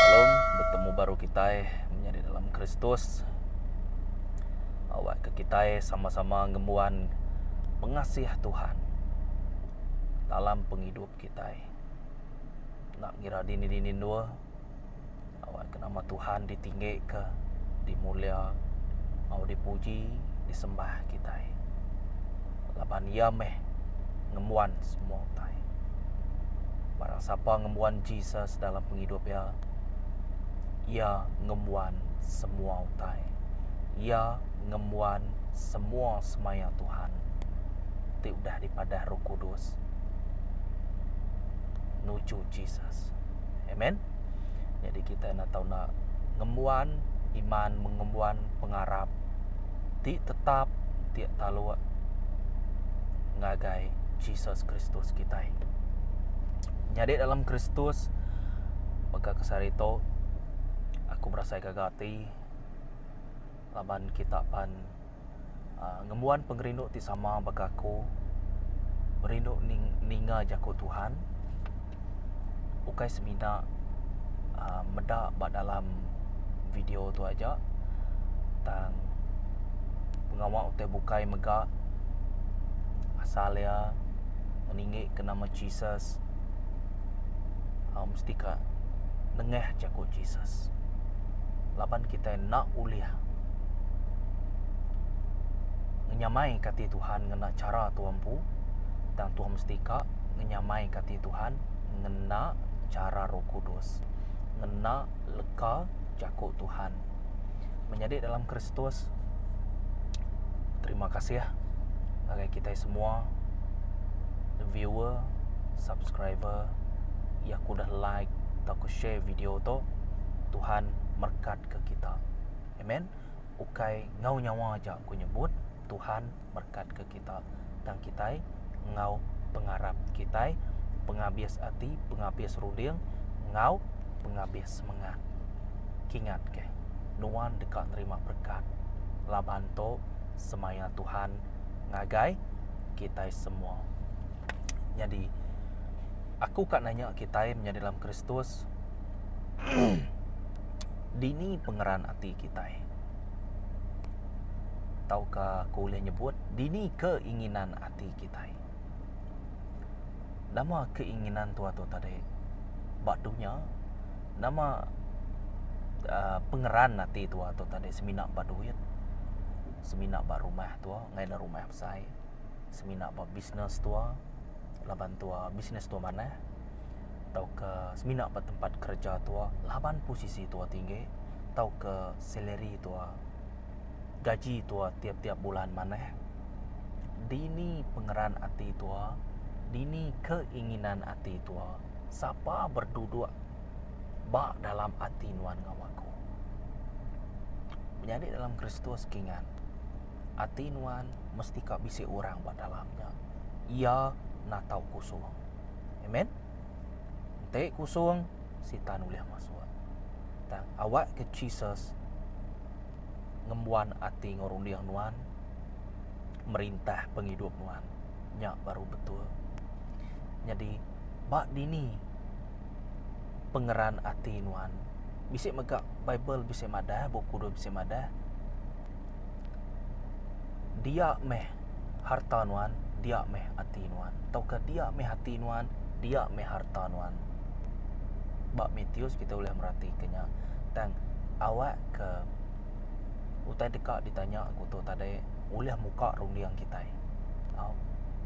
Salom, betemu baru kitai menya di dalam Kristus. Awakka kitai sama-sama ngembuan pengasih Tuhan dalam pengidup kitai. Enda ngira dini-dini endur. Awakka nama Tuhan ditinggika, dimulia enggau dipuji, disembah kitai. Laban iya meh ngembuan semua utai. Barang sapa ngembuan Jesus dalam pengidup iya, iya ngembuan semua utai. Iya ngembuan semua semaya Tuhan ti udah dipadah Roh Kudus nuju Jesus. Amen. Jadi kita nak tahu nak ngembuan iman mengembuan pengarap ti tetap ti taluk ngagai Jesus Kristus kita. Nyadi dalam Kristus mega kesari tu aku berasai gaga ati laban kita pan Uh, ngembuan pengerindu ti sama baka aku, merindu ning ninga jaku Tuhan, ukai semina uhh meda ba dalam video tu aja, tang pengawa utai bukai mega asal iya ngeninggi ke nama Jesus. uh, mesti ka nengah jaku Jesus. Laban kita nak ulih ngenyamai kati Tuhan ngena cara tuan pu, tang tuan mesti ka ngenyamai kati Tuhan ngena cara Roh Kudus, ngena leka jaku Tuhan. menyadi dalam Kristus terima kasih ngagai kitai semua viewer subscriber iya ke udah like atau ke share video tu Tuhan merekatka kita amen ukai enggau nyawa aja aku nyebut Tuhan. merkatka kita tang kitai enggau pengarap kitai pengabis ati pengabis runding enggau pengabis semengat kingat ke nuan deka nerima berkat laban tu semaya Tuhan ngagai kitai semua nyadi aku ka nanya kitai menyadi dalam kristus dini pengeran ati kitai. tauka aku ulih nyebut dini keinginan ati kitai. Nama keinginan tua tu tadi? Ba dunya nama aaa pengeran ati tua tu tadi semina ba duit, semina ba rumah tua ngaina rumah besai, semina ba bisnes tua laban tua bisnes tua manah. tauka semina ba tempat kereja tua laban posisi tua tinggi tauka salary tua gaji tua tiap-tiap bulan manah dini pengeran ati tua dini keinginan ati tua sapa berduduk ba dalam ati nuan enggau aku menyadi dalam kristus ke ngan ati nuan mesti ka bisi orang ba dalam nya iya natau kusuh. Amen. Enti kusung sitan ulih masuk. Tang awak ke Jesus ngembuan ati ngau runding nuan merintah pengidup nuan. Nya baru betul. Nyadi ba dini pengeran ati nuan. Bisi mega bible bisi madah bup kudus bisi madah. Dia meh harta nuan, dia meh ati nuan tauka dia meh ati nuan, dia meh harta nuan. Ba Matius kita ulih meratika nya tang awak ke utai deka ditanya ku tu tadi ulih muka runding kitai. Au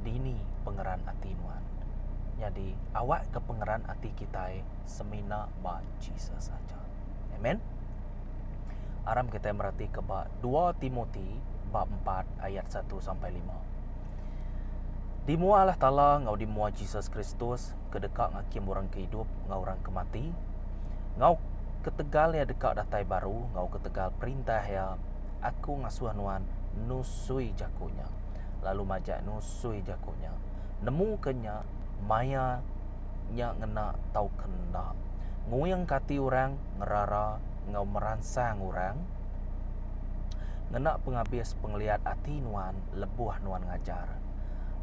dini pengeran ati nuan. Nyadi awak ke pengeran ati kitai semina ba Jesus aja. Amen. Aram kitai merati ke ba 2 Timoti bab 4 ayat 1 sampai 5. Di mua Allah Taala ngau di mua Jesus Kristus ke deka ngakim orang ke idup ngau orang ke mati ngau ketegal ya deka datai baru ngau ketegal perintah ya aku ngasuh nuan nusui jakunya lalu majak nusui jakunya Nemu ke nya maya nya ngena tauka enda. Nguingka ati orang ngerara enggau meransang orang ngena pengabis pengeliat ati nuan lebuh nuan ngajar.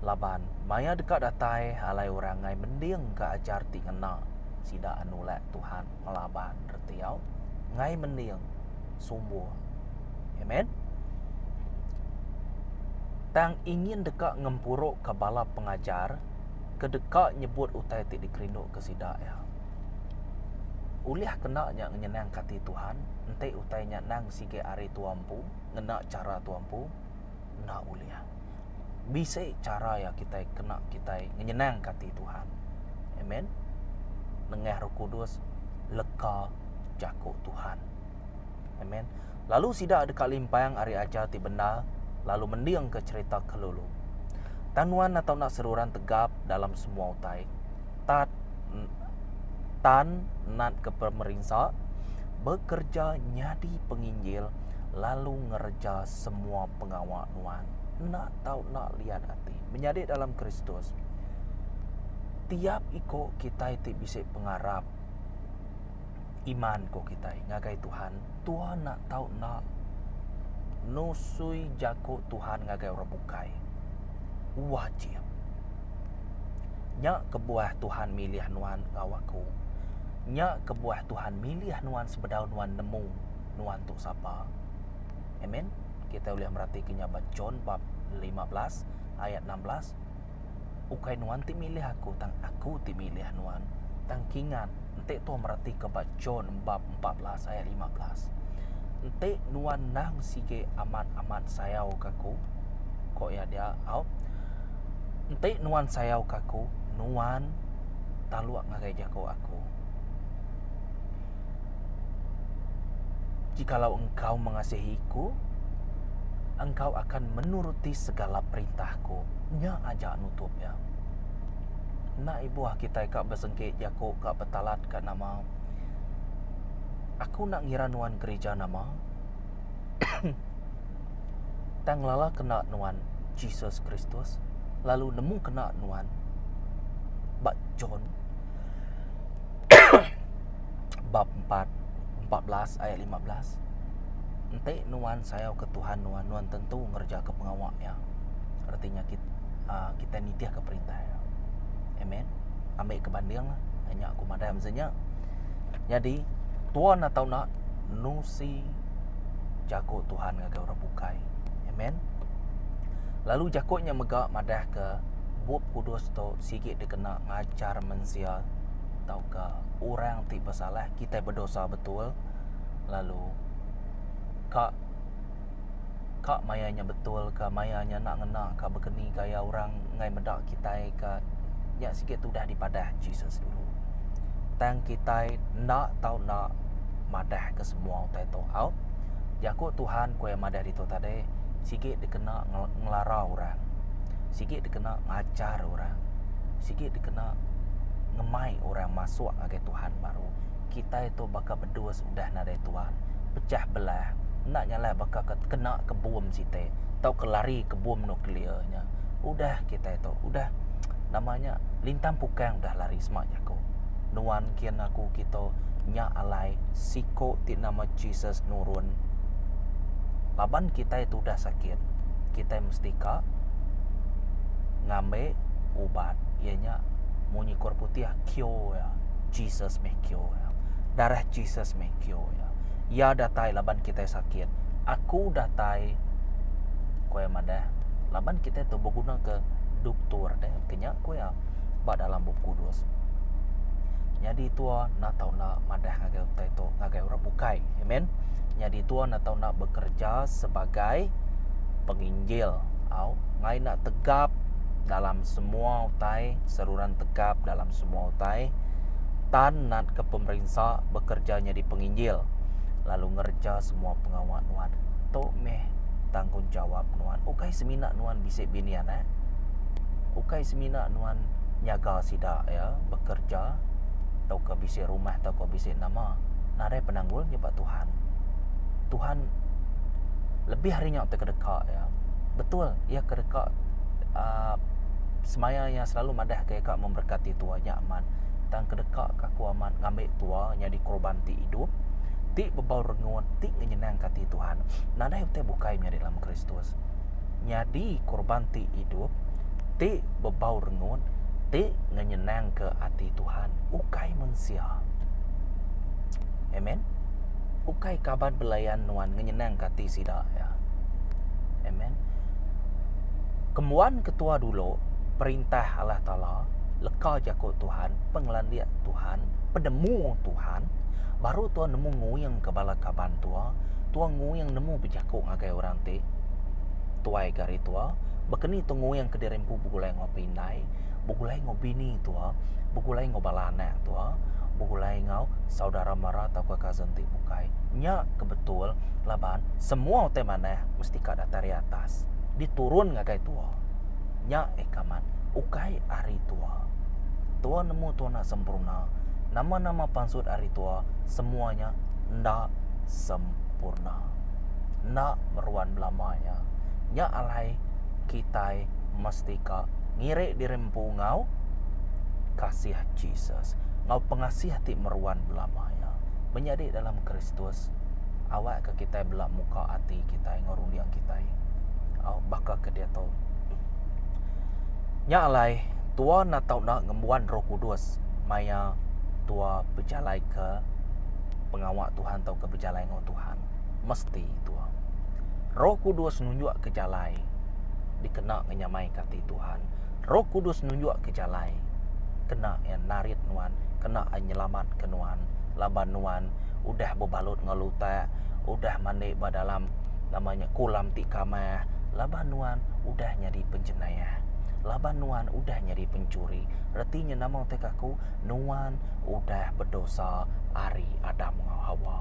Laban maya deka datai alai orang ngai mendingka ajar ti ngena sida anu ulih Tuhan. ngelaban reti au ngai mending sumbuh. Amen. Tang ingin deka ngempuruka bala pengajar ke deka nyebut utai ti dikerinduka sida iya. Ulih kena nya nyenangka ati Tuhan, enti utai nya endang sigi ari tua empu, ngena chara tua empu, enda ulih. bisi chara iya kitai kena kitai nyenangka ati Tuhan. Amen. Nengah Roh Kudus leka jaku Tuhan. Amen. Lalu sida deka limpang ari ajar ti bendar lalu mendingka cerita ke lulu. Tang nuan atau nak seruran tegap dalam semua utai. Tat tan nat ke pemerinsa bekerja nyadi penginjil lalu ngereja semua pengawa nuan enda tau enda liat ati. Menyadi dalam Kristus, tiap iko kitai ti bisi pengarap iman ko kitai ngagai Tuhan, Tuhan enda tau enda nusui jako Tuhan ngagai orang bukai. Wajib. Nya kebuah Tuhan milih nuan enggau aku. Nya kebuah Tuhan milih nuan sebedau nuan nemu nuan tu sapa. Amen. Kita ulih meratika nya ba John bab 15 ayat 16. Ukai nuan ti milih aku, tang aku ti milih nuan. Tang kingat, enti tu meratika ba John bab 14 ayat 15. Enti nuan nang sige amat-amat sayau kaku, kok ya dia au. Enti nuan sayau kaku, nuan taluk ngagai jaku aku. Jikalau engkau mengasihi Ku, engkau akan menuruti segala perintah Ku. Nya aja nutup iya. Enda ibuh kitai ka besengki jaku ka betalat ka nama. Aku enda ngira nuan gerija nama. Tang lala kena nuan Jesus Kristus lalu nemu kena nuan ba John. bab empat empat belas ayat lima belas enti nuan sayau ke Tuhan nuan nuan tentu ngereja ke pengawa iya reti nya kit aa kitai nitih ke perintah iya amen ambi ke banding la nya nya aku madai mesti nya nyadi tuan enda tau nak nusi jaku Tuhan ngagai orang bukai amen lalu jaku nya mega madah ke bup kudus tu sigi dikena ngajar mensia tauka orang ti besalah kitai bedosa betul lalu ka ka maya nya betul ka maya nya enda ngena ka bekeni gaya orang enggai meda kitai ka nya sigi tudah dipadah Jesus dulu tang kitai enda tau enda madah ke semua utai tu au jaku Tuhan ku iya madah ditu tadi sigi dikena ngelara orang. sigi dikena ngajar orang, sigi dikena ngemai orang masuk ngagai Tuhan baru. Kitai tu baka bedus udah nadai tuan, pecah belah, enda nyalai baka ke kena ke bom siti tauka lari ke bom nuklear nya. Udah kitai tu, udah nama nya lintang pukang udah lari sema jaku. Nuan kin aku kitu nya alai siku ti nama Jesus nurun laban kitai tu udah sakit. kitai mesti ka ngambi ubat iya nya munyi kura putih cure iya Jesus meh cure iya darah Jesus meh cure iya iya datai laban kitai sakit aku datai ku iya madah laban kitai tu beguna ke dutur deh ke nya ku iya. ba dalam Bup Kudus. Nyadi tua enda tau enda madah ngagai utai tu ngagai orang bukai. Amen. Nyadi tua enda tau enda bekerja sebagai penginjil au ngai enda tegap dalam semua utai seruran tegap dalam semua utai tan natka pemerinsa bekerja nyadi penginjil lalu ngereja semua pengawa nuan. Tu meh tanggungjawap nuan. Ukai semina nuan bisi bini anak. ukai semina nuan nyaga sida iya bekerja tauka bisi rumah tauka bisi nama narai penanggul nya ba Tuhan. Tuhan lebih ari nya ti kedeka iya. Betul iya kedeka aaa semaya iya selalu madah ke ika memberkati tua nya amat tang kedeka ka aku amat ngambi tua nyadi korban ti idup ti bebau rengut ti nyenangka ati Tuhan nadai utai bukai menyadi dalam Kristus. nyadi korban ti idup, ti bebau rengut, ti ngenyenangka ati Tuhan, ukai mensia. Amen. Ukai kaban belayan nuan ngenyenangka ati sida, ya. Amen. Kembuan ketua dulu, perintah Allah Taala, leka jaku Tuhan, pengelandik Tuhan, penemu Tuhan, baru tuan nemu nguingka bala kaban tua, tuan nguing nemu bejaku ngagai orang ti Tuai ke hari tua, baka ni tu nguing kediri empu begulai enggau apai indai, begulai enggau bini tua, begulai enggau bala anak tua, begulai enggau saudara mara atau pun cousin ti bukai. Nya ke betul laban semua utai manah mesti ka datai ari atas, diturun ngagai tua. Nya eka mat ukai ari tua. Tua nemu tua enda sempurna. Nama-nama pansut ari tua semua nya enda sempurna. enda meruan belama nya. Nya alai kitai mesti ka ngirik diri empu enggau kasih Jesus, enggau pengasih ti meruan belama nya. Menyadi dalam Kristus awak ka kitai bela muka ati kitai enggau runding kitai. Au baka ke diatu nya alai tua enda tau enda ngembuan Roh Kudus maya tua bejalai ke pengawa Tuhan tauka. jalai enggau Tuhan mesti tua. Roh Kudus nunjukka jalai dikena ngenyamaika ati Tuhan. Roh Kudus nunjukka jalai kena iya narit nuan, kena iya nyelamatka nuan laban nuan udah bebalut enggau lutak, udah mandi ba dalam nama nya kolam ti kamah laban nuan udah nyadi penjenayah, laban nuan udah nyadi pencuri. Reti nya nama utai aku nuan. udah bedosa ari Adam enggau Hawa.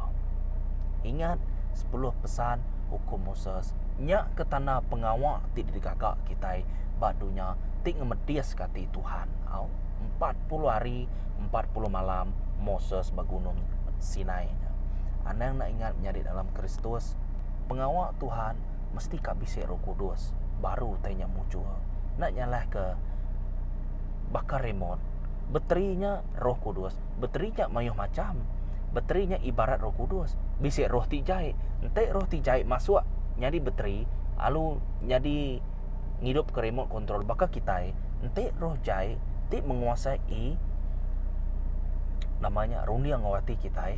Ingat sepuluh pesan Hukum Moses nya ke tanda pengawa ti digaga kitai ba dunya ti ngemediska ati Tuhan. Au, empat puluh hari, empat puluh malam Moses ba Gunung Sinai nya. Anang enda ingat menyadi dalam Kristus, pengawa Tuhan mesti ka bisi Roh Kudus baru utai nya mujur. Enda nyalahka baka remote. Beteri nya Roh Kudus. Beteri nya mayuh macham. Beteri nya ibarat Roh Kudus. Bisi roh ti jai. Enti roh ti jai masuk nyadi beteri, lalu nyadi ngidupka remote control baka kitai, enti roh jai ti menguasai nama nya runding enggau ati kitai,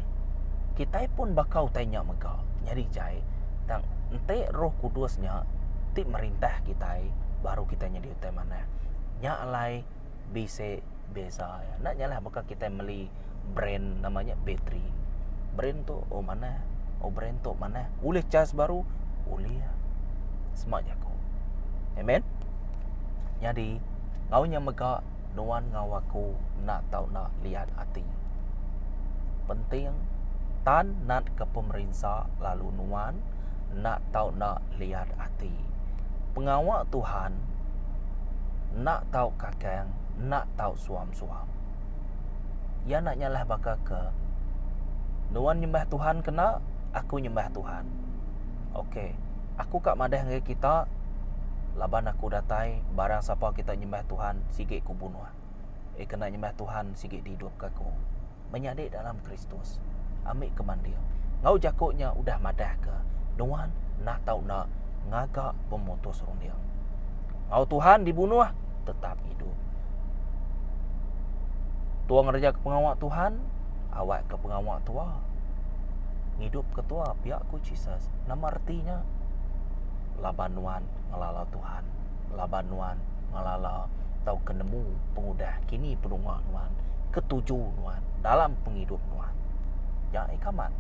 kitai pun baka utai nya mega nyadi jai. Tang enti Roh Kudus nya ti merintah kitai, baru kitai nyadi utai manah. Nya alai. bisi beza iya. Enda nya lah baka kitai meli brand nama nya bateri. Brand tu oh manah, oh brand tu manah. Ulih chas baru? Ulih. Sma jaku. Neh men. Nyadi au nya mega nuan enggau aku enda tau enda liat ati. Penting tan natka pemerinsa lalu nuan. enda tau enda liat ati. Pengawa Tuhan enda tau kakang enda tau suam-suam. Iya enda nyalah baka ke nuan nyembah Tuhan kena aku nyembah Tuhan. Ok aku ka madah ngagai kita laban aku datai barang sapa kita nyembah Tuhan sigi ku bunuh. Iya kena nyembah Tuhan sigi dihidupka aku. Menyadi dalam Kristus. Ambi ke mandir. Enggau jaku nya udah madahka nuan enda tau enda ngaga pemutus runding. Enggau Tuhan dibunuh tetap hidup. Tua ngereja ke pengawa Tuhan, awak ke pengawa tua. Ngidup ke tua pia ku Jesus. Nama reti nya? Laban nuan ngelala Tuhan. laban nuan ngelala tauka nemu pengudah kini penuma nuan, ketuju nuan dalam pengidup nuan. Nya aja amat.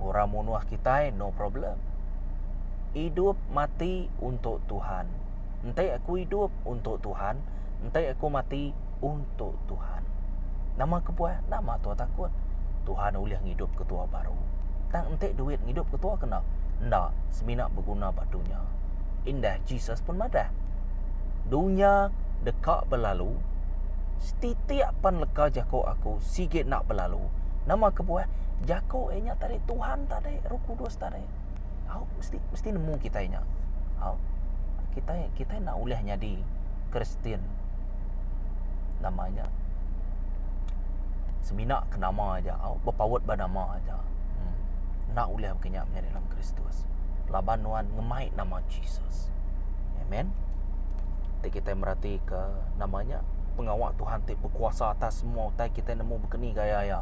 Orang munuh kitai no problem. Idup mati untuk Tuhan. Enti aku idup untuk Tuhan. Enti aku mati untuk Tuhan. Nama kebuah? Nama tua takut? Tuhan ulih ngidup ke tua baru. Tang enti duit ngidup ke tua kena? Enda, semina beguna ba dunya. Indah Jesus pun madah. Dunya deka belalu, setitik pan leka jaku aku sigi enda belalu. Nama kebuah? Jaku iya nya tadi Tuhan tadi, Roh Kudus tadi. au mesti mesti nemu kitai nya au kitai kitai enda ulih nyadi kristian nama nya semina ke nama aja au bepaut ba nama aja enda ulih baka nya menyadi dalam kristus laban nuan ngemai nama jesus amen ti kitai merati ke nama nya pengawa tuhan ti bekuasa atas semua utai kitai nemu baka ni gaya iya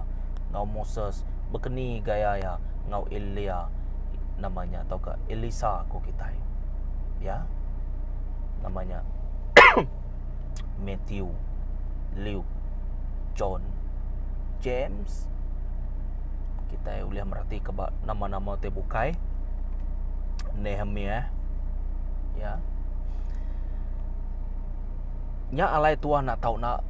enggau moses baka ni gaya iya. enggau Elia nama nya tauka Elisa ku kitai. Ya. Nama nya Matthew, Luke, John, James. Kitai ulih merati ke ba nama-nama ti bukai. Nehemiah. Ya. Nya alai tuan nak tau nak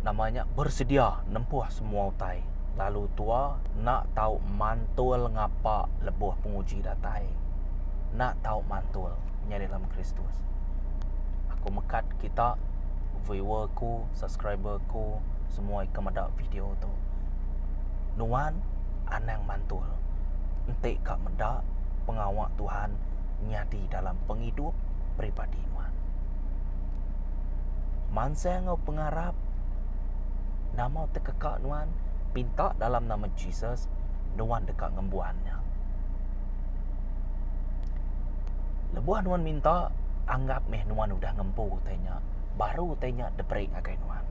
nama nya bersedia nempuh semua utai. lalu tua enda tau mantul ngapa lebuh penguji datai. Enda tau mantul nyadi dalam Kristus. Aku mekat kita viewer aku, subscriber aku semua ke meda video tu. Nuan anang mantul enti ka meda pengawa Tuhan nyadi dalam pengidup peribadi nuan. Mansang enggau pengarap Nama tekeka nuan pinta dalam nama Jesus nuan deka ngembuan nya. Lebuh nuan minta anggap meh nuan udah ngempu utai nya baru utai nya diberi ngagai nuan.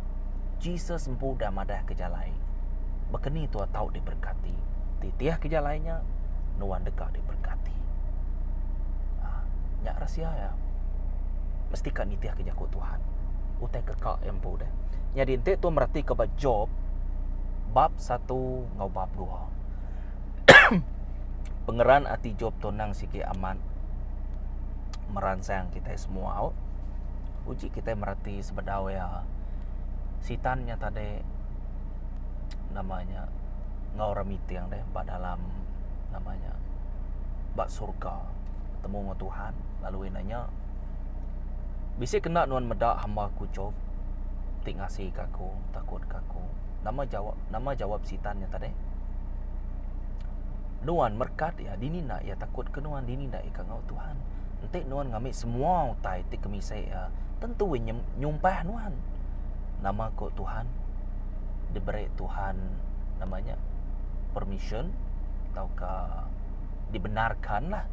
Jesus empu udah madah ke jalai. Bekeni tua tau diberkati. Titih ke jalai nya nuan deka diberkati. Ah, nya rahsia iya. Mesti ka nitih ke jaku Tuhan. Utai keka iya empu deh. Nyadi enti tu meratika ba Job bab satu enggau bab dua. Pengeran ati Job tu endang sigi amat meransang kitai semua. Uji kitai merati sebedau iya sitan nya tadi nama nya enggau orang miting deh ba dalam nama nya ba surga betemu enggau Tuhan lalu ina nya bisi kena nuan meda hamba ku Job. ti ngasika aku takut ka aku nama jawab nama jawab sitan nya tadi nuan merkat iya dini enda iya takut ke nuan dini enda iya ka ngau tuhan enti nuan ngambi semua utai ti ke misai iya tentu iya nyumpah nuan nama ko tuhan diberi tuhan nama nya permission tauka dibenarkanlah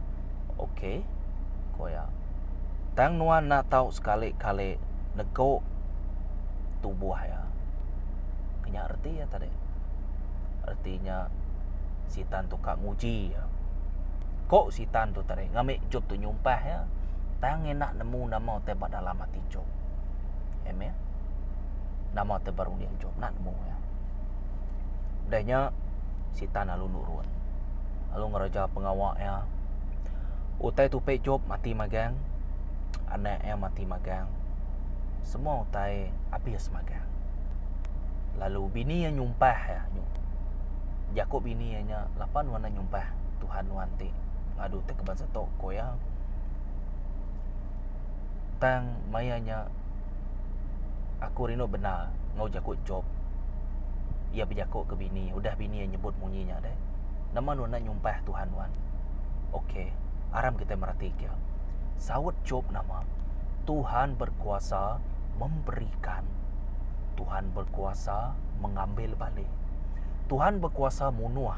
ok ko iya. Tang nuan enda tau sekali-kali nego tubuh iya. Ke nya reti iya tadi. Reti nya sitan tu ka nguji iya. Ko sitan tu tadi ngami Jop tu nyumpah iya, tang enda nemu nama ti ba dalam ati Jop. Amen. Nama ti ba runding Jop enda nemu iya. Udah nya sitan lalu nurun. Lalu ngereja pengawa iya. Utai tupi Job mati magang, anak iya mati magang, semua utai abis magang. Lalu bini iya nyumpah iya, jaku bini iya nya lapa nuan enda nyumpah Tuhan nuan ti ngadu ti ke bansa tu ku iya. Tang maya nya aku rindu bendar enggau jaku Job. Iya bejaku ke bini, udah bini iya nyebut munyi nya deh, nama nuan enda nyumpah Tuhan nuan? Ok, aram kitai meratika. Saut Job nama? Tuhan berkuasa memberikan. Tuhan berkuasa mengambil balik. Tuhan berkuasa munuh.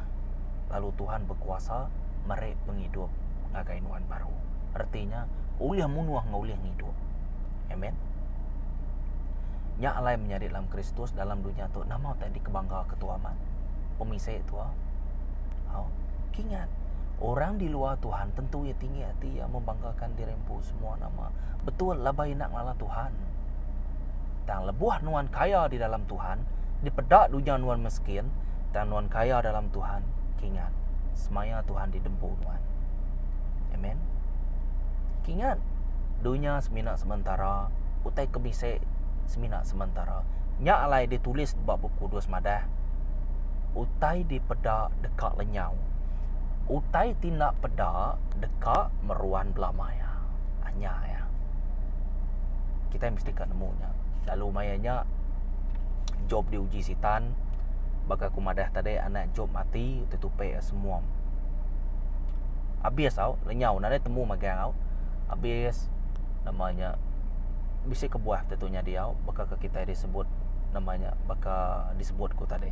Lalu Tuhan berkuasa meri pengidup ngagai nuan baru. Artinya, ulih munuh enggau ulih ngidup. Amen. Nya alai menyadi dalam Kristus dalam dunia tu nama utai dikebangga ke tua amat. Pemisai tua. Au. Kingat, orang di luar Tuhan tentu iya tinggi ati iya membanggakan diri empu semua nama. Betul laban iya nak ngelala Tuhan. Tang lebuh nuan kaya di dalam Tuhan, dipeda dunya nuan meskin, tang nuan kaya dalam Tuhan, kingat, semaya Tuhan di dempu nuan. Amen. Kingat, dunya semina sementara, utai ke bisi semina sementara. Nya alai ditulis ba Bup Kudus madah. utai dipeda deka lenyau. Utai ti enda peda deka meruan bela maya. Ah nya iya. Kitai mesti ka nemu nya. Lalu maya nya Jop diuji Sitan baka ku madah tadi anak Jop mati tetupi iya semuam. Abis tau lenyau nadai temu magang au. Abis nama nya bisi kebuah tantu nyadi au baka kitai disebut nama nya baka sebut ku tadi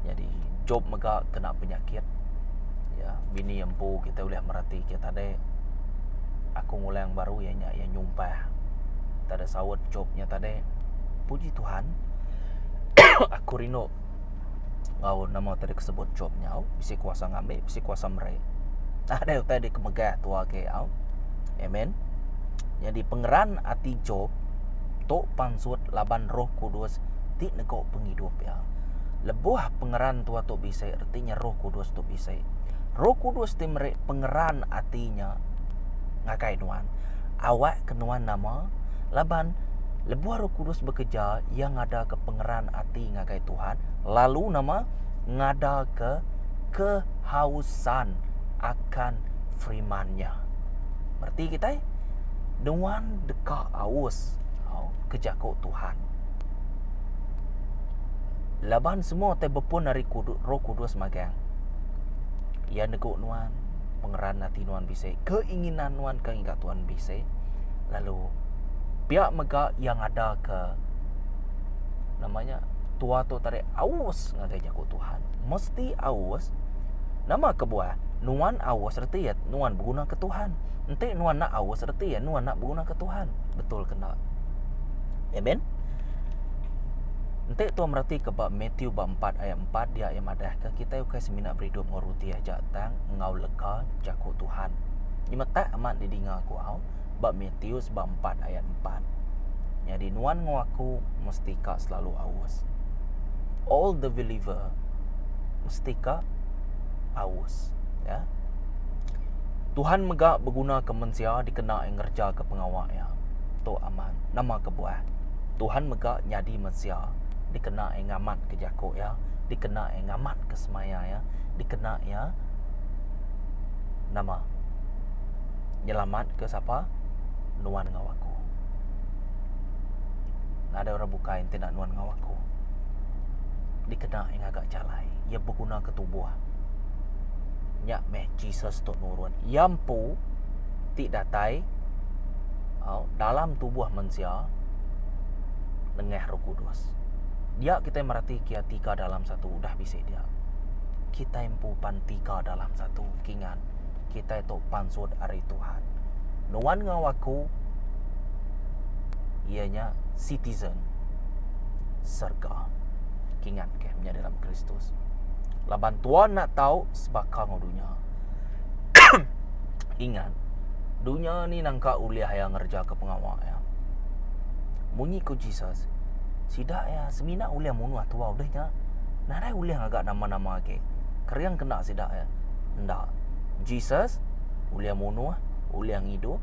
nyadi job mega kena penyakit iya bini empu kitai ulih mereti kitai tadi aku ngulang baru iya nya iya nyumpah tadi saut job nya tadi puji tuhan aku rindu enggau nama tadi ke sebut job nyau bisi kuasa ngambi bisi kuasa meri tadi utai deka megah tua agi au amen nyadi pengeran ati job tu pansut laban roh kudus. ti nego pengidup iya. Lebuh pengeran tua tu bisi reti nya roh kudus tu bisi. Roh kudus ti meri pengeran ati nya ngagai nuan. Awak ke nuan nama laban lebuh roh kudus bekereja iya ngadaka pengeran ati ngagai Tuhan lalu nama ngadaka kehausan akan firman nya. Reti kitai nuan deka aus ke jaku Tuhan. Laban semua ti bepun ari Roh Kudus magang. Iya negu nuan pengeran ati nuan bisi, keinginan nuan ke enggau Tuhan bisi. Lalu pia mega iya ngadaka nama nya tua tu tadi aus ngagai jaku Tuhan. Mesti aus. Nama kebuah? Nuan aus reti iya nuan beguna ke Tuhan. Enti nuan enda aus reti iya nuan enda beguna ke Tuhan. Betul ke enda? Amen. Enti tuan meratika ba Matthew bab 4 ayat 4 dia yang madahka kita ukai semina beridup enggau roti aja tang enggau lega jaku Tuhan. Nyema tak amat didinga aku au ba Matthew bab 4 ayat 4. Nyadi nuan enggau aku mesti ka selalu aus. All the believer mesti ka aus. Ya. Tuhan mega beguna ke mensia dikena ngereja ke pengawa ya. Tu Man, nama kebuah? Tuhan mega nyadi mensia dikena iya ngamatka jaku Iya, dikena iya ngamatka semaya Iya, dikena iya nama nyelamatka sapa nuan enggau aku. Nadai orang bukai enti enda nuan enggau aku. Dikena iya ngaga jalai, iya begunaka tubuh. Nya meh Jesus tu nurun. Iya empu ti datai. dalam tubuh mensia nengah Roh Kudus. Dia kita merati kia tika dalam satu udah bisi dia. Kita empu pan tika dalam satu kingan. Kita itu pansut hari Tuhan. Nuan ngau aku ianya citizen serga. Kingan ke menjadi dalam Kristus. Laban tuan nak tahu sebaka ngau dunia. Ingat, dunya ni nangka ulih iya ngerejaka pengawa iya. Munyi ku Jesus, sida iya semina ulih munuh tuah udah nya, nadai ulih ngaga nama-nama agi. Kering kena sida iya? Enda. Jesus ulih munuh, ulih ngidup.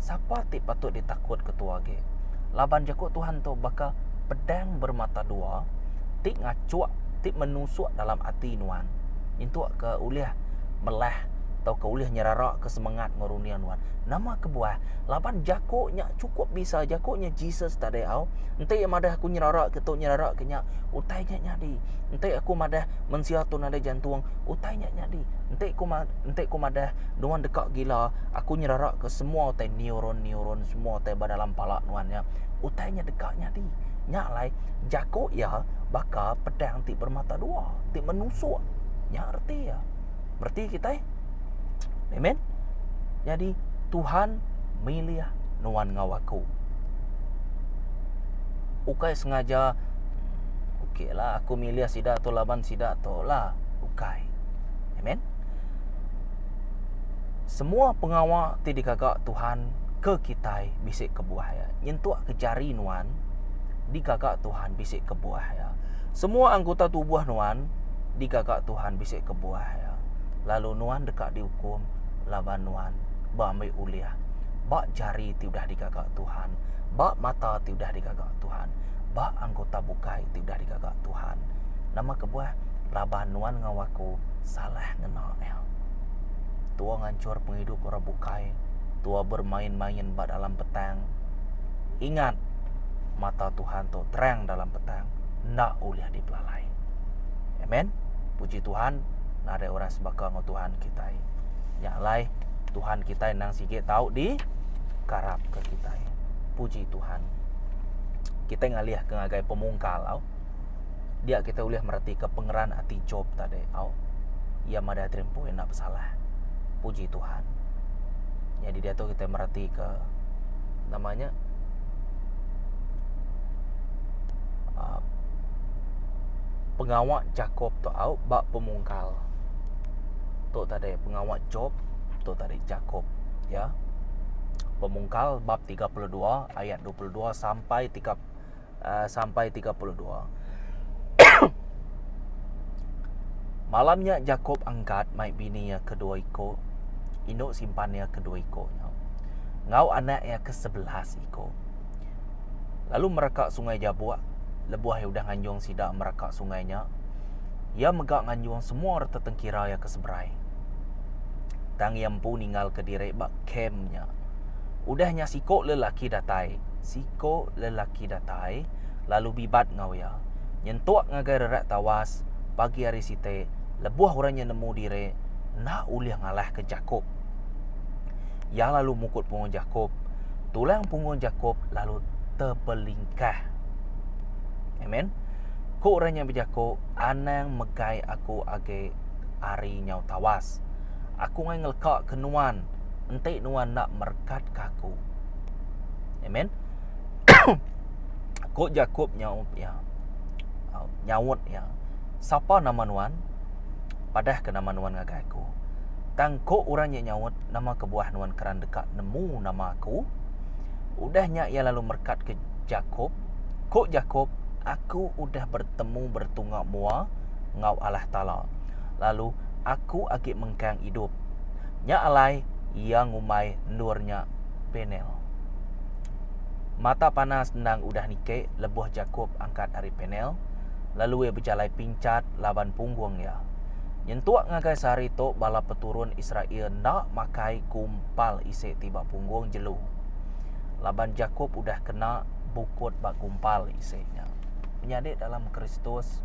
Sapa ti patut ditakut ke tuah agi? Laban jaku Tuhan tu baka pedang bermata dua ti ngachuk, ti menusuk dalam ati. ati nuan nyentuk ke ulih melah tauka ulih nyeraraka semengat enggau runding nuan. Nama kebuah? Laban jaku nya chukup bisa, jaku nya Jesus tadi au. Enti iya madah aku nyeraraka tu nyeraraka nya, utai nya nyadi. Enti aku madah mensia tu nadai jantung, utai nya nyadi. Enti ku enti ku madah nuan deka gila, aku nyeraraka semua utai neuron-neuron semua utai ba dalam pala nuan nya, utai nya deka nyadi. Nya alai jaku iya baka pedang. ti bermata dua, ti menusuk. Nya reti iya. Bereti kitai. Amen. Jadi Tuhan milih nuan ngau aku. Ukai sengaja okeylah aku milih sida tu laban sida tu lah. Ukai. Amen. Semua pengawa ti digaga Tuhan ke kitai bisi kebuah iya. Nyentuk ke jari nuan digaga Tuhan bisi kebuah iya. Semua anggota tubuh nuan digaga Tuhan bisi kebuah iya, lalu nuan deka diukum laban nuan beambi ulih ba jari ti udah digaga Tuhan, ba mata ti udah digaga Tuhan, ba anggota bukai ti udah digaga Tuhan. Nama kebuah? Laban nuan enggau aku salah ngena iya. Tua ngancor pengidup orang bukai, tua bermain-main ba dalam petang. Ingat, mata Tuhan tu terang dalam petang. tang enda ulih dipelalai. Amen. Puji Tuhan, nadai orang sebaka enggau Tuhan kitai. Nya alai Tuhan kitai nang sigi tau di karap ke kitai. Puji Tuhan. Kita ngalih ke ngagai pemungkal au. Dia kita ulih mereti ke pengeran ati Job tadi au. Ia madai terimpoi enda bersalah. Puji Tuhan. Jadi dia tu kita mereti ke namanya uh, pengawa Jakob tu au ba pemungkal. Tu tadi pengawa Job, tu tadi Jakob, ya. Pemungkal bab 32 ayat 22 sampai 3 uh, eh, sampai 32. Malamnya Jakob angkat mai bini ia kedua iko, induk simpan ia kedua iko. Ngau anak ia ke sebelas iko. lalu mereka sungai Jabuk lebuh iya udah nganjung sida mereka sungai nya iya mega nganjung semua reta tengkira iya ke seberai tang iya empu ninggal ke diri ba kem nya udah nya siko lelaki datai siko lelaki datai lalu bibat enggau iya nyentuk ngagai rerak tawas pagi hari siti lebuh orang nya nemu diri enda ulih ngalahka jaku. Iya lalu mukut punggung Jakop. Tulang punggung Jakop lalu tebelingkah. Amen. Ku orang yang bejaku, anang megai aku agi ari nyau tawas. Aku ngai ngeleka ke nuan, enti nuan nak merekat ke aku. Amen. Ku Jakop nyau ya. Nyaut ya. Sapa nama nuan? Padah ke nama nuan ngagai aku? Tang ko orang nya nyaut, Nama kebuah nuan keran deka nemu nama aku? Udah nya iya lalu merekat ke Jakop. Ko Jakop, Aku udah bertemu bertunga mua ngau Allah Taala, lalu aku agi mengkang idup. Nya alai iya ngumbai endur nya Penel. Mata panas endang udah niki lebuh Jakop angkat ari Penel, lalu iya bejalai pinchat laban punggung iya. Nyentuk ngagai sehari tu bala peturun Israel enda makai gumpal isi ti ba punggung jelu. Laban Jakop udah kena bukut ba gumpal isi nya. Menyadi dalam Kristus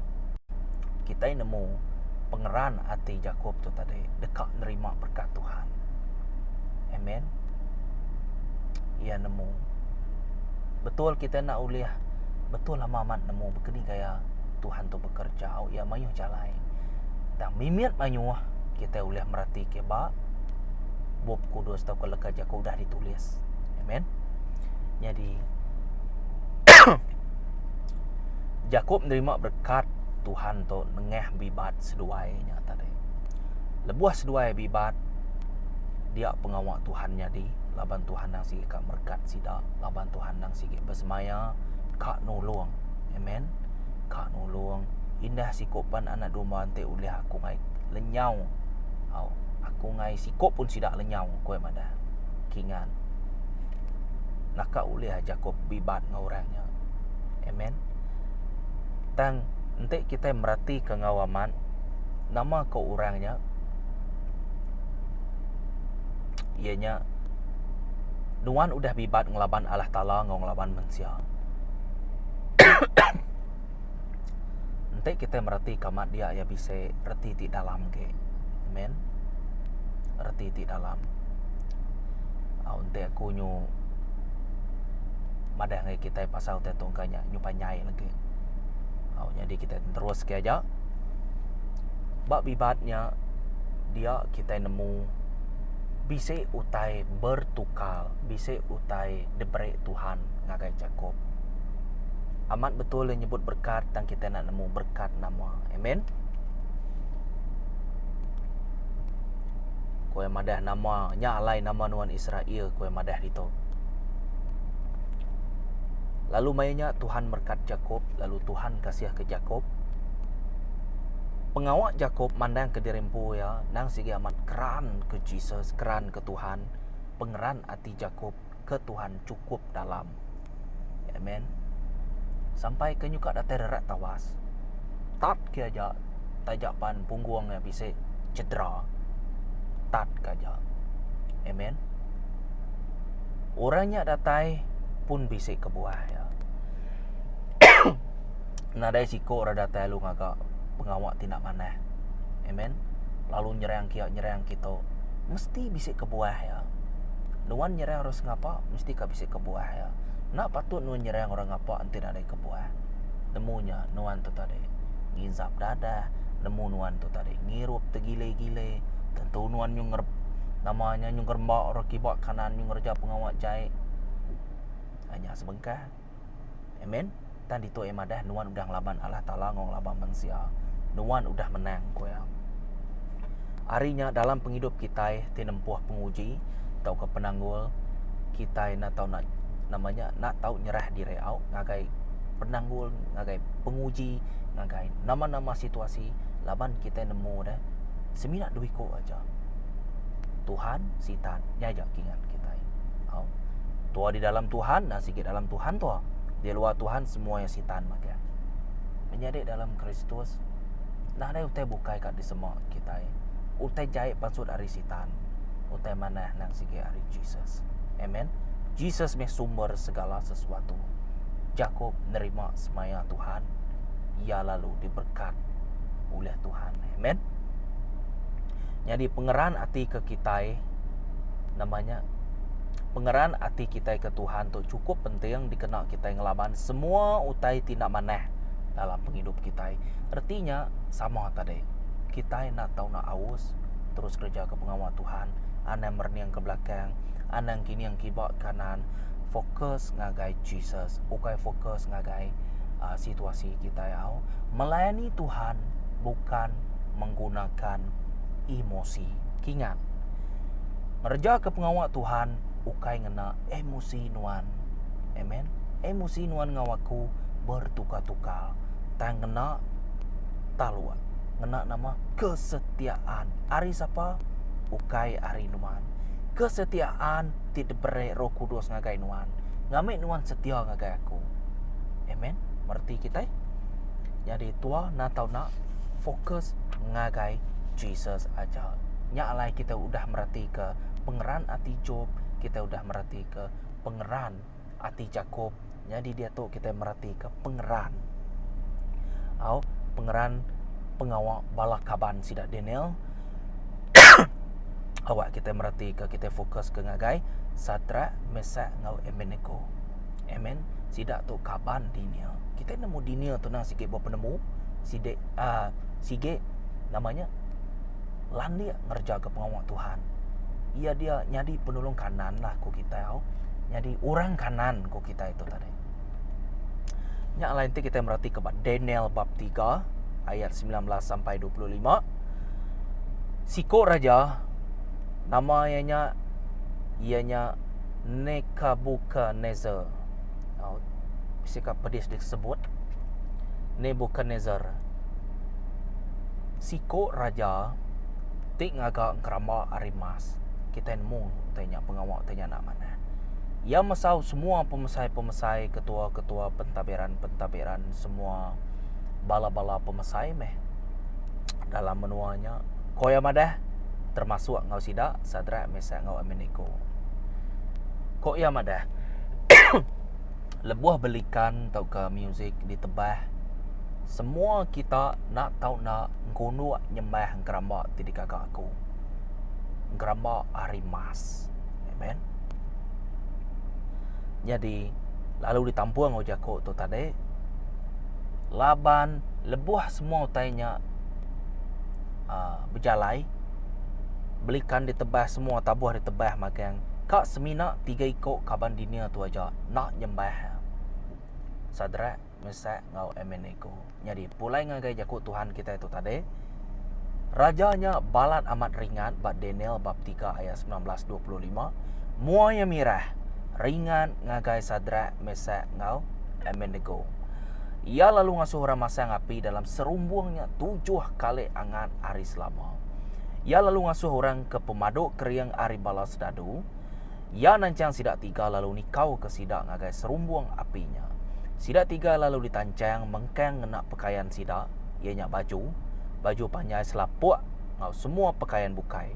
kitai nemu pengeran ati Jakop tu tadi deka nerima berkat Tuhan. Amen. Ia nemu betul kita nak ulih betul lama amat nemu begini gaya Tuhan tu bekerja au iya mayuh jalai. Tang mimit mayuh kita ulih merati ke ba bup kudus tau ke leka jaku udah ditulis. Amen. Jadi jaku menerima berkat Tuhan tu nengah bibat seduai nya tadi. Lebuh seduai bibat dia pengawa Tuhan nyadi laban Tuhan nang sigi ka merekat sida, laban Tuhan nang sigi besemaya ka nulung. Amen. Ka nulung. Indah siko pan anak domba enti ulih aku ngai lenyau. Au, aku ngai siko pun sida lenyau ku iya madah. Kingan. Naka ulih aja ko bibat enggau orang nya. Amen. Tang enti kitai meratika enggau amat nama ko orang nya iya nya nuan udah bibat ngelaban Allah Taala enggau ngelaban mensia. Enti kitai mereti ke amat dia iya bisi reti ti dalam agi. Amen. Reti ti dalam. Au enti aku nyu madah ngagai kitai pasal te tungka nya nyu panjai lagi. Au nyadi kitai neruske aja ba bibat nya dia kitai nemu bisi utai bertukar, bisi utai diberi Tuhan ngagai Jakop. Amat betul le nyebut berkat tang kita nak nemu berkat nama. Amen. Kue madah nama nya alai nama nuan Israel kue madah ditu. Lalu mai nya Tuhan berkat Jakop, lalu Tuhan kasih ke Jakop. Pengawa Jakop mandang ke diri empu ya, nang sigi amat keran ke Jesus, keran ke Tuhan, pengeran ati Jakop ke Tuhan cukup dalam. Amen. Sampai ke nyuka datai rerat tawas. Tat ke aja taja pan punggung nya bisi cedera. Tat ke aja. Amen. Orang nya datai pun bisi kebuah ya. nadai siko rak datai lalu ngaga pengawa ti enda manah amen lalu nyerang kiya nyerang kito mesti bisi kebuah iya nuan nyerang orang sengapa mesti ka bisi kebuah iya enda patut nuan nyerang orang ngapa enti enda ada kebuah nemu nya nuan tu tadi ngisap dadah nemu nuan tu tadi ngirup tegile-gile tentu nuan nyu ngerep nama nya nyu ngeremba orang kiba kanan nyu ngereja pengawa jai nya sebengkah. Amen. Tang ditu iya madah nuan udah ngelaban Allah Taala enggau ngelaban mensia. Nuan udah menang ku iya. Hari nya dalam pengidup kitai ti nempuh penguji tauka penanggul kitai enda tau nak nama nya enda tau nyerah diri au ngagai penanggul ngagai penguji ngagai nama-nama situasi laban kitai nemu deh semina dua iku aja. Tuhan, Sitan, nya aja kingan kitai. Au. Tua di dalam Tuhan, nah sigi dalam Tuhan tua. Di luar Tuhan semua yang Sitan maka. Menyadi dalam Kristus, nah ada utai bukai kat disema kitai. Utai jai pansut ari Sitan. Utai manah nang sigi ari Jesus. Amen. Jesus meh sumber segala sesuatu. Jakob nerima semaya Tuhan. Ia lalu diberkat oleh Tuhan. Amen. Nyadi pengeran ati ke kitai nama nya pengeran ati kitai ke Tuhan tu cukup penting dikena kitai ngelaban semua utai ti enda manah dalam pengidup kitai. Reti nya sama tadi. Kitai enda tau nak aus terus kereja ke pengawa Tuhan, anang merening ke belakang, anang kining kiba kanan, fokus ngagai Jesus, ukai fokus ngagai uh, situasi kitai au. Melayani Tuhan bukan menggunakan emosi. Kingat, ngereja ke pengawa Tuhan ukai ngena emosi nuan. Amen. Emosi nuan ngau aku bertukar-tukar. Tang ngena taluk. Ngena nama kesetiaan. Ari sapa? Ukai ari nuan. Kesetiaan ti diberi roh kudus ngagai nuan. Ngamik nuan setia ngagai aku. Amen. Merti kita. Jadi Tua enda tau nak fokus ngagai Jesus aja. Nya alai kita udah meratika pengeran ati Jop, kita udah meratika pengeran ati Jakop. Nyadi diatu kita meratika pengeran au pengeran pengawa bala kaban sida Daniel. Awak kita meratika kita fokus ke ngagai Sadrak, Mesach enggau Abednego. Amen. Sida tu kaban dinia. Kita nemu dinia tu nah sigi buah penemu, sidi uh, ah, sigi namanya landik ngerja ke pengawa Tuhan. Ia dia nyadi penolong kanan lah ku kita au. Nyadi orang kanan ku kita itu tadi. Nya lain ti kita merhati ke Daniel bab 3 ayat 19 sampai 25. Siko raja nama ianya ianya Nechabuchaneser, au bisi ka pedis disebut, Nebuchadnezzar, siko raja ti ngaga ngeramba ari emas. Kitai nemu utai nya pengawa utai nya enda manah. Iya mesau semua pemesai-pemesai, ketua-ketua pentabiran-pentabiran semua bala-bala pemesai meh dalam menua nya. Ko iya madah, termasuk enggau sida, Sadrak, Mesak, enggau Abednego. Ko iya madah, lebuh belikan tauka musik ditebah, semua kita enda tau enda engkunuk nyembah engkeramba ti digaga aku. Engkeramba ari emas. Amen. Nyadi, lalu ditampung enggau jaku tu tadi, laban lebuh semua utai nya uh, bejalai belikan ditebah semua tabuh ditebah magang ka semina tiga iko kaban dinia tu aja nak nyembah sadrak mesak ngau emenego nyadi pulai ngagai jaku tuhan kitai tu tadi raja nya balat amat ringat ba daniel bab 3 ayat 19 25 mua iya mirah ringat ngagai sadrak Mesak, enggau Abednego. Iya lalu ngasuh orang masang api dalam serumbung nya tujuh kali angat hari selama. Iya lalu ngasuh orang ke pemadu kering ari bala sedadu. Iya nanchang sida tiga lalu nikau ke sida ngagai serumbung api nya. Sida tiga lalu ditanchang mengkang ngena pekayan sida, iya nya baju, baju panjai selapuk enggau semua pekayan bukai.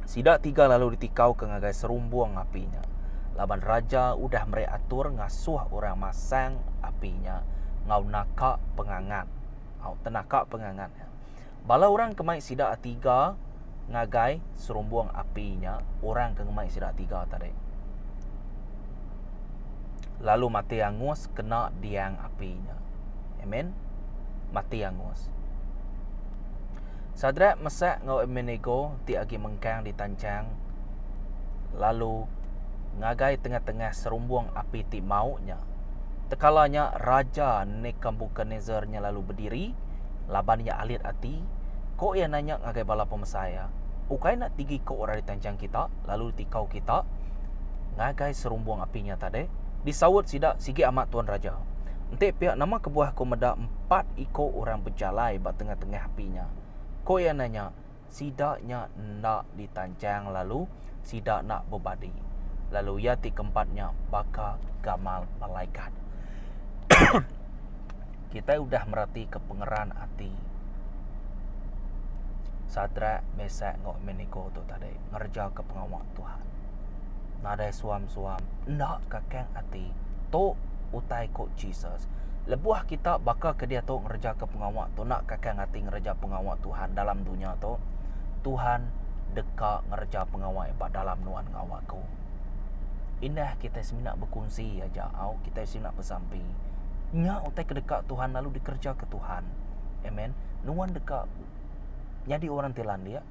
Sida tiga lalu ditikauka ngagai serumbung api nya. Laban raja udah meri atur ngasuh orang masang api nya enggau naka pengangat. Au tenaka pengangat nya. Bala orang ke mai sida tiga ngagai serumbung api nya, orang ke ngemai sida tiga tadi. Lalu mati angus kena diang api nya. Amen. Mati angus. Sadrak, Mesak, enggau Abednego ti agi mengkang di tanchang lalu ngagai tengah-tengah serumbung api ti mauk nya. Tekala nya Raja Nekambukanezar nya lalu bediri, laban iya alit ati, ko iya nanya ngagai bala pemesai iya, Ukai enda tigi ko orang di tanchang kita lalu di tikau kita ngagai serumbung api nya tade? Disaut sida, Sigi amat Tuan Raja. Enti pia, nama kebuah ko meda empat iko orang bejalai ba tengah-tengah api nya. Ko iya nanya, Sida nya enda ditanchang lalu sida enda bebadi. Lalu iya ti keempat nya baka gamal malaikat. Kitai udah meratika pengeran ati Sadrak, Mesak enggau Abednego tu tadi ngerejaka pengawa. Tuhan. Nadai suam-suam enda kakang ati. Tu utai ku Jesus. Lebuh kita baka ke diatu ngereja ke pengawa tu enda kakang ati ngereja pengawa Tuhan dalam dunya tu, Tuhan deka ngereja pengawa Iya ba dalam nuan enggau aku. Indah kita semina bekunsi aja au kita semina besampi. Nya utai ke deka Tuhan lalu dikereja ke Tuhan. Amen. Nuan deka nyadi orang ti landik.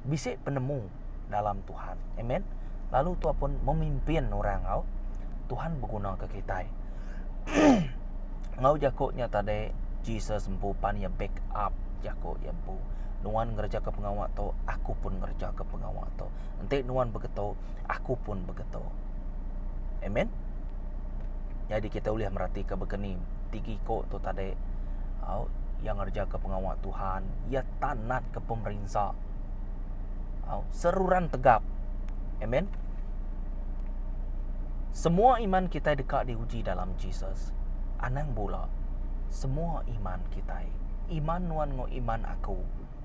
bisi penemu dalam Tuhan. Amen. Lalu tua pun memimpin orang au. Tuhan berguna ke kita. Ngau jaku nya tadi Jesus empu pan ia back up jaku ia empu. Nuan ngereja ke pengawa tu, aku pun ngereja ke pengawa tu. Enti nuan begitu, aku pun begitu. Amen. Jadi kita boleh merhati ke begini. Tiga ikut tu tadi. Au, yang ngereja ke pengawa Tuhan. Ia tanat ke pemerinsa. Au, seruran tegap. Amen. Semua iman kita deka diuji dalam Jesus. Anang bula. Semua iman kita, iman nuan ngau iman aku,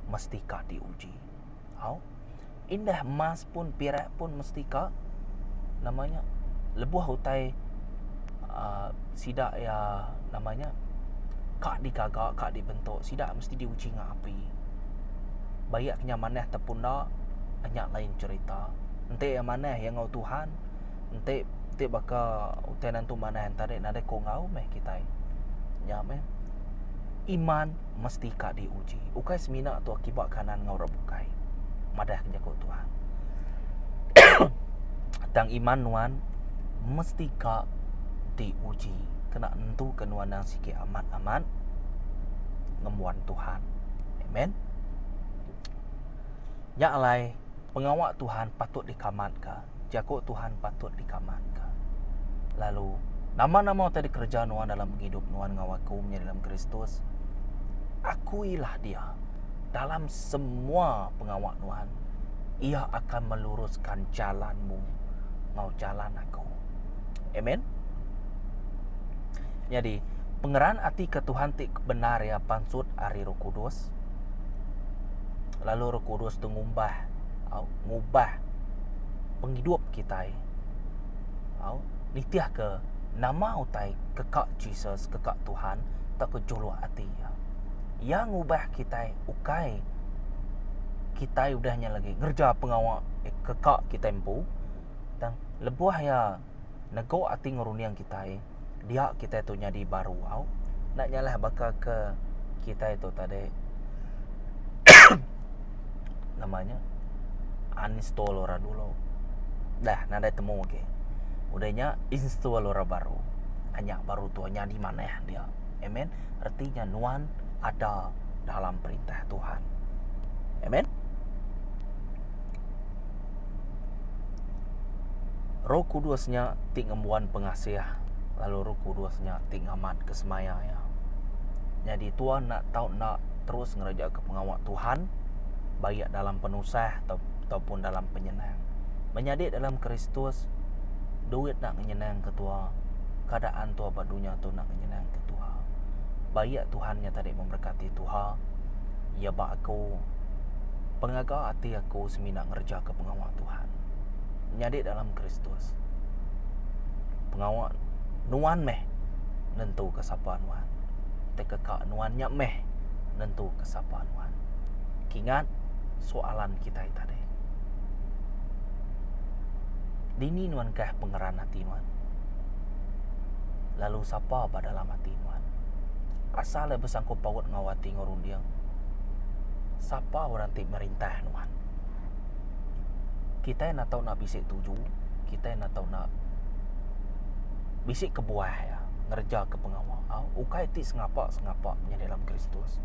mestika diuji. Au. Indah emas pun pirak pun mesti ka nama nya lebuh utai uh, sida ya nama nya ka digaga ka dibentuk sida mesti diuji ngak api. Bayak kinya manah ataupun enda nya lain cerita. Enti iya manah iya enggau Tuhan enti ti baka utai nentu manah enti nadai ko enggau meh kitai. Nya meh iman. mesti ka diuji, ukai semina tu akibat kanan enggau orang bukai. Madah ke jaku Tuhan. Tang iman nuan mesti ka diuji kena nentuka nuan nang sikit amat-amat ngembuan Tuhan. Amen. Nya alai pengawa Tuhan patut dikamat ka. jaku Tuhan patut dikamanka. Lalu, nama-nama utai dikereja nuan dalam pengidup nuan enggau aku menyadi dalam Kristus, akuilah dia dalam semua pengawa nuan. Ia akan meluruskan jalanmu enggau jalan aku. Amen. Jadi, pengeran ati ke Tuhan ti benar ia pansut ari Roh Kudus. Lalu Roh Kudus tu ngumbah ngubah pengidup kitai au nitihka nama utai ke ka Jesus ke ka Tuhan tauka juluk ati iya. Iya ngubah kitai ukai kitai udah nya lagi ngereja pengawa eh, ke ka kitai empu tang lebuh iya negok ati ngerunding kitai dia kitai tu nyadi baru au enda nyalah baka ke kitai tu tadi nama nya uninstall orang dulu dah nadai temu agi udah nya install orang baru nya baru tu nyadi manah dia amen reti nya nuan ada dalam perintah tuhan amen. Roh Kudus nya ti ngembuan pengasih lalu Roh Kudus nya ti ngamatka semaya iya. Nyadi tuan enda tau enda terus ngerejeka pengawa Tuhan baik iya dalam penusah ataupun dalam penyenang. Menyadi dalam Kristus duit enda nyenangka tuan, keadaan tuan ba dunya tu enda nyenangka tuan. Ba iya Tuhan nya tadi memberkati tuha iya ba aku. Pengaga ati aku semina ngerejaka pengawa Tuhan. Nyadi dalam Kristus. Pengawa nuan meh nentuka sapa nuan. Tauka ka nuan nya meh nentuka sapa nuan. Kingat soalan kitai tadi. Dini nuan kah pengeran ati nuan? Lalu sapa ba dalam ati nuan? Asal iya besangkut paut enggau ati enggau runding. Sapa orang ti merintah nuan? Kitai enda tau enda bisi tuju, kitai enda tau enda bisi kebuah iya ngerejaka pengawa au ukai ti sengapa-sengapa nya dalam Kristus.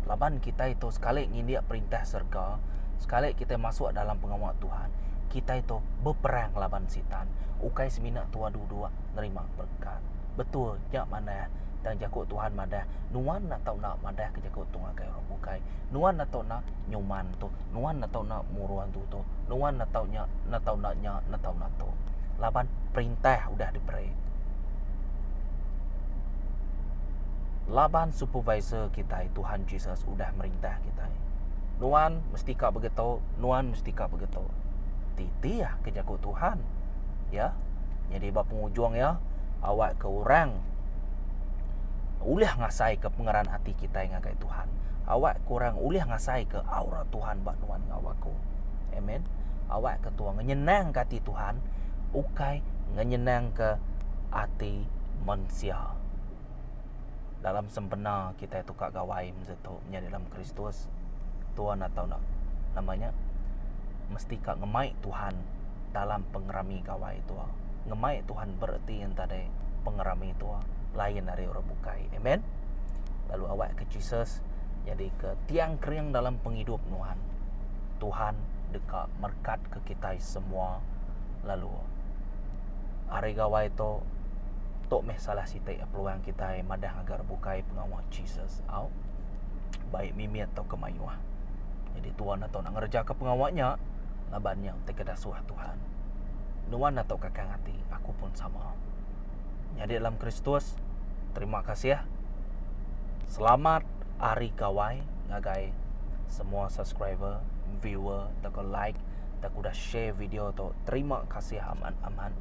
Laban kitai tu sekali ngindik perintah serega, sekali kitai masuk dalam pengawa Tuhan, kitai tu beperang laban Sitan, ukai semina tuah duduk nerima berekat. Betul nya manah tang jaku Tuhan madah, nuan enda tau enda madah ke jaku tu ngagai orang bukai. bukai nuan enda tau enda nyuman tu nuan enda tau enda muruh antu tu nuan enda tau nya enda tau enda nya enda tau enda tu laban perintah udah diberi laban supervisor kitai tuhan jesus udah merintah kitai nuan mesti ka begitu nuan mesti ka begitu titi ah ke jaku tuhan ya jadi ba pengujung iya awak ke orang ulih ngasai ke pengeran ati kitai kitai ngagai Tuhan. Awakka orang ulih ngasaika aura Tuhan ba nuan enggau aku. Amen. Awakka tua ngenyenangka ati Tuhan ukai ngenyenangka ati mensia. Dalam sempena kitai tukar gawai masa tu menyadi dalam Kristus, tua nak tau nak nama nya mesti ka ngemai Tuhan dalam pengerami gawai tua. Ngemai Tuhan bereti enta deh pengerami tua lain ari orang bukai. Amen. Lalu awak ke Jesus jadi ke tiang kering dalam penghidup Tuhan. Tuhan deka merkat ke kita semua lalu hari gawai tu tu meh salah siti peluang kita madah agar bukai pengawa Jesus. Au. Baik mimit atau kemayuh. Jadi tuan atau nak ngerja ke pengawa nya laban nya ti kedasuh Tuhan. Nuan atok kakang ati, aku pun sama. Nyadi dalam Kristus, terima kasih. Selamat Hari Gawai ngagai semua subscriber, viewer, tak like, tak udah share video tu. Terima kasih amat-amat.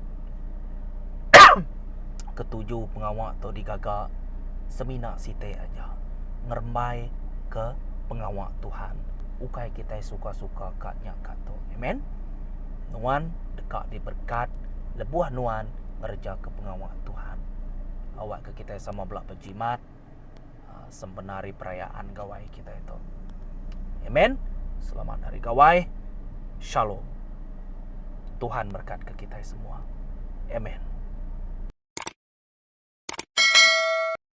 Ketuju pengawa tu digaga semina siti aja. Ngerembai ke pengawa Tuhan. ukai kitai suka-suka ka nya ka tu. Amen. Nuan deka diberkat lebuh nuan ngerejaka pengawa Tuhan. Awakka kitai sama bela bejimat ah, sempena hari perayaan gawai kitai tu. Amen. Selamat hari gawai. Shalom. Tuhan berkat ke kita semua. Amen.